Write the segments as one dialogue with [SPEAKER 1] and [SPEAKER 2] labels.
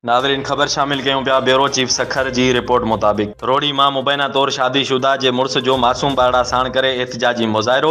[SPEAKER 1] ناظرين خبر شامل ڪيون پيا بيورو چيف سکر جي رپورٽ مطابق روھڙي مان مبينا طور شادي شده جي مڙس جو معصوم ٻارڙا ساڻ ڪري احتجاجي مظاھرو،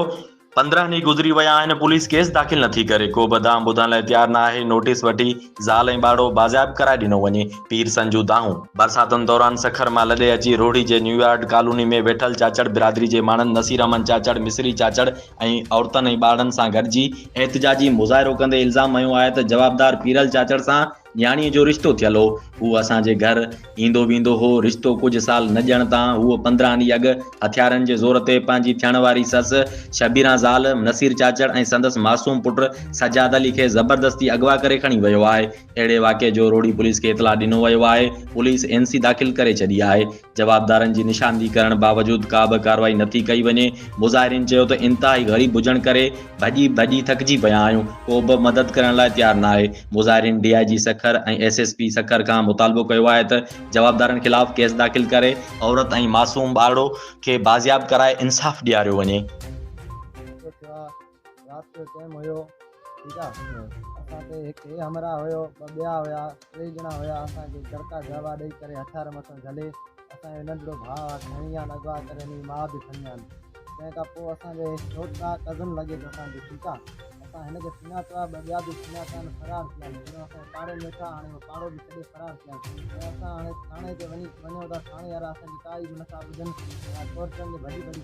[SPEAKER 1] پندرهن ڏينهن گذري ويا آهن پوليس ڪيس داخل نٿي ڪري ڪو به دانهن ٻڌڻ لاء تيار نه آهي نوٽيس وٺي زال ۽ ٻارڙو بازياب ڪرائي ڏنو وڃي پير سن جون دانهون. برساتن دوران سکر مان لڏي اچي روھڙي جي نيويارڊ ڪالوني ۾ ويٺل چاچڙ برادري جي ماڻھن نصير احمد چاچڙ مصري چاچڙ ۽ عورتن ۽ ٻارڙن سان گڏجي احتجاجي مظاھرو ڪندي الزام هنيو آهي ته جوابدار پيرل چاچڙ سان نياڻيء جو رشتو ٿيل هو. هو اسان جي گهر ايندو ويندو هو. رشتو ڪجهه سال نه ڄڻ تان هو پندرهن ڏينهن اڳ هٿيارن جي زور تي پنهنجي ٿيڻ واري سس، شبيران زال، نصير چاچڙ ۽ سندس معصوم پٽ سجاد علي کي زبردستي اغوا ڪري کڻي ويو آهي. اهڙي واقعي جو روهڙي پوليس کي اطلاع ڏنو ويو آهي. پوليس اين سي داخل ڪري ڇڏي آهي. جوابدارن جي نشاندهي ڪرڻ باوجود ڪابه ڪارروائي نٿي ڪئي وڃي، مظاهرين چيو ته انتهائي غريب هجڻ ڪري ڀڄي ڀڄي ٿڪجي پيا آهيون، ڪوبه مدد ڪرڻ لاء تيار ناهي، مظاهرين D I G Sukkur ۽ S S P Sukkur کان مطالبو ڪيو آهي ته جوابدارن خلاف ڪيس داخل ڪري، عورت ۽ معصوم ٻارڙو کي بازياب ڪرائي انصاف ڏياريو وڃي.
[SPEAKER 2] رات جو ٽيم هيو ٺيڪ آ اسان کي هڪ هي همراه هيو ٻه ٻيا هيا ٽي ڄڻا هيا اسان کي جرڪا جهوا ڏئي ڪري هٿيار مٿن جهلي اسان جو ننڍڙو ڀاء آ کڻي ويا آهن اغوا ڪري هنن جي ماء به کڻي ويا آهن تنهن کان پوء اسان جي ڇوٽا ڪزن لڳي ٿو اسان جو ٺيڪ آ اسان هن کي سڃاتو آ ٻه ٻيا به سڃاتا آهن فرار ٿي ويا آهن جڏهن اسان پاڙي ۾ اچا هاڻي اهو پاڙو به ڇڏي فرار ٿي ويا آهن ۽ اسان هاڻي ٿاڻي تي وڃي وڃون ٿا ٿاڻي وارا اسان جي ڪا ئي به نٿا ٻڌن ۽ ڪورٽن ۾ ڀڄي ڀڄي